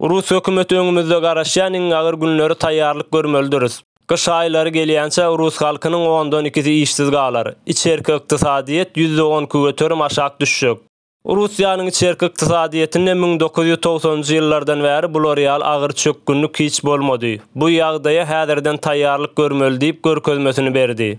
Rus hökümeti öňümizde garaşýan iň agyr günleri taýýarlyk görmelidiris. Gyş aýlary gelýänçä rus halkynyň ondan ikisi işsiz galar. Içerki ykdysadyýet ýüzde on köterim aşak düşjek. Russiýanyň içerki ykdysadyýetinde müň dokuz ýüz togsanynjy ýyllardan bäri bular ýaly agyr çökgünlik hiç bolmady. Bu ýagdaýa häzirden taýýarlyk görmeli diýip görkezmesini berdi.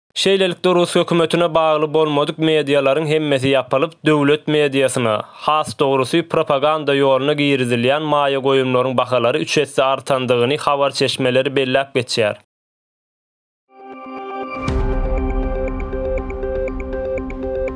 Şeýlelikde rus hökümetine bagly bolmadyk medialaryň hemmesi ýapylyp, döwlet mediasyna, has dogrusy, propaganda ýoluna girizilýän maýa goýumlaryň bahalary üç esse artandygyny habar çeşmeleri belläp geçýär.